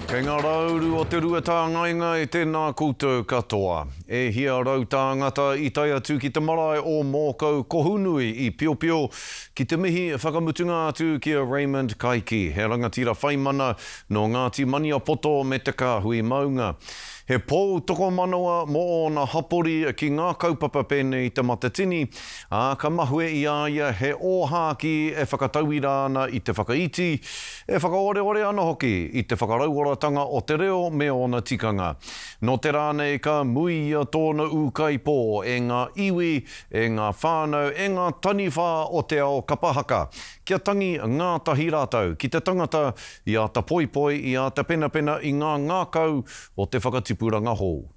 Kei ngā rā uru o te rua tāngaengae tēnā koutou katoa. E hia rau tāngata i tae atu ki te marae o Mōkau Kohunui i Piopio ki te mihi whakamutunga atu ki a Raymond Kaiki, he rangatira whaimana nō Ngāti Maniapoto me te kāhui maunga. He pou tokomanawa mō ōna hapori ki ngā kaupapa pēnei i te Matatini, Ā, ka mahue i a ia he ōhākī e whakatauira ana i te whakaiti, e whakaoreore ana hoki i te whakarauoratanga o te reo me ōna tikanga. Nō te rā nei ka muia tōna ūkaipō e ngā iwi, e ngā whānau, e ngā taniwha o te ao kapa haka, kia tangi ngātahi rātou ki te tangata i āta poipoi, i āta penapena i ngā ngākau o te whakatipuranga hou.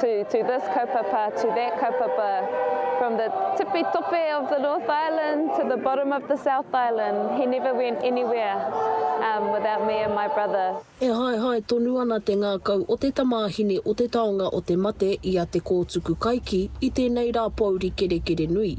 to to this kaupapa, to that kaupapa, from the tipi tope of the North Island to the bottom of the South Island, he never went anywhere um, without me and my brother. E haehae tonu ana te ngākau o te tamāhine o te taonga o te mate i a Te Kōtuku Kaiki i tēnei rā pōuri kerekere nui.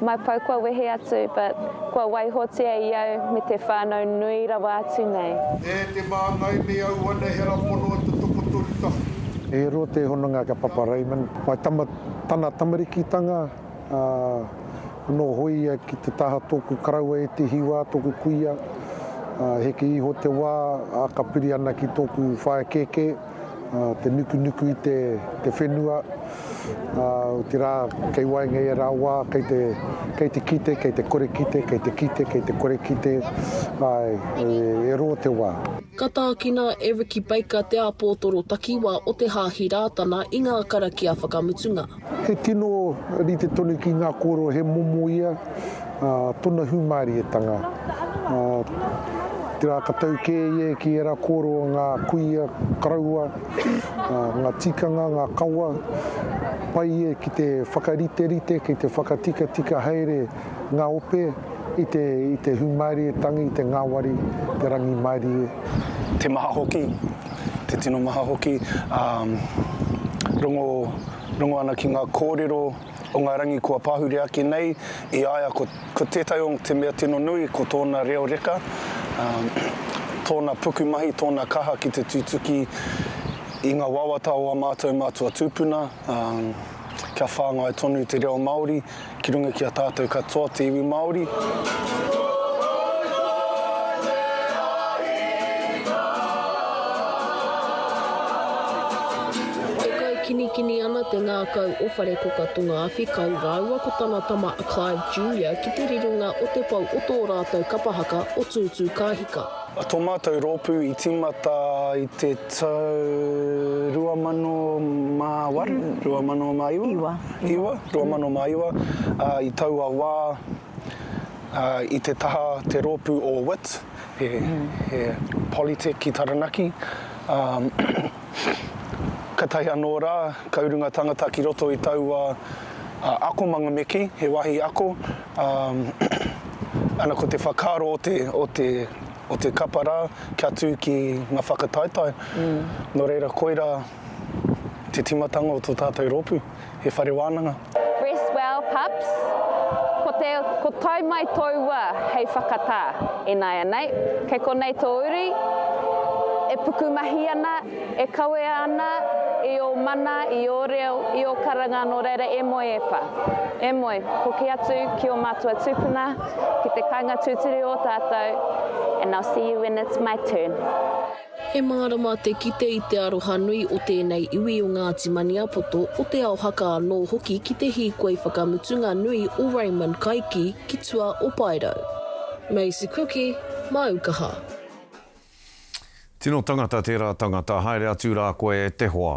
Mai pau kua wehe atu, but kua waihotia i au me te whanau nui rawa atu nei. E te māngai me au ana he ara pono e te tokotoru tahi. E roa te hononga ki a Papa Raymond. Whai tama tana tamarikitanga, ā, anō hoea ia ki te taha tōku karaua e te hiwa, tōku kuia. Ā, heke iho te wā, ā, ka piri ana ki tōku whaea kēkē. te nukunuku i te whenua, otirā kei waenga i ērā wā, kei te, kei te kite, kei te kore kite, kei te kite, kei te kore kite, āe, e rō te wā. Ka tākina e Ricky Baker te āpōtoro takiwā o te Hāhi Rātana i ngā karakia whakamutunga. He tino rite tonu ki ngā kōrero he momo ia, ā, tōna hūmārietanga. Ā, te rā ka tau kē ia ki ērā kōrero o ngā kuia karaua, ā, ngā tikanga, ngā kawa, pai ia ki te whakariterite, ki te whakatikatika haere ngā ope i te i te hūmārie tangi, te ngāwari, te rangimārie. Te maha hoki, te tino maha hoki, ā, rongo, rongo ana ki ngā kōrero o ngā rangi kua pahure ake nei, i a ia ko, ko tētahi o te mea tino nui ko tōna reo reka, ā, tōna pukumahi, tōna kaha ki te tutuki i ngā wawata o ā mātou mātua tūpuna, ā, kia whāngai tonu te reo Māori. ki runga ki a tātou katoa te iwi Māori. Kinikini ana te ngākau o Wharekoka Tonga-a-Whikau rāua ko tana tama a Clive Junior ki te rironga o te pou o tō rātou kapa haka o Tūtūkāhika. A tō mātou rōpū i tīmata i te tau 2008, 2009. iwa, 2009, ā, i taua wā, ā, i te taha te rōpū o wit, he, he Polytech ki Taranaki, ā, katahi anō rā, kau runga tangata ki roto i taua, ā, akomanga me kī, he wāhi ako, ā, ana ko te whakaaro o te, o te, o te kapa rā, kia tū ki ngā whakataetae, nō reira koirā Te timatanga o to tatou ropu, he whare wananga. Rest well pups Ko te Ko tae mai tou wa hei whakata E naianei Kei konei to uri E pukumahi ana E kawea ana I o mana I o reo I o karanga no reira E moe e pa E moe Hoki atu ki o matua tupuna Ki te kainga tuturu o tatou And I'll see you when it's my turn. He mārama te kite i te aroha nui o tēnei iwi o Ngāti Maniapoto, o Te Ao Haka anō hoki ki te hīkoi whakamutunga nui o Raymond Kaiki ki tua o Paerau. Maisie Kuki, Māu Kaha. Tino tangata tērā tangata, haere atu rā koe e te hoa.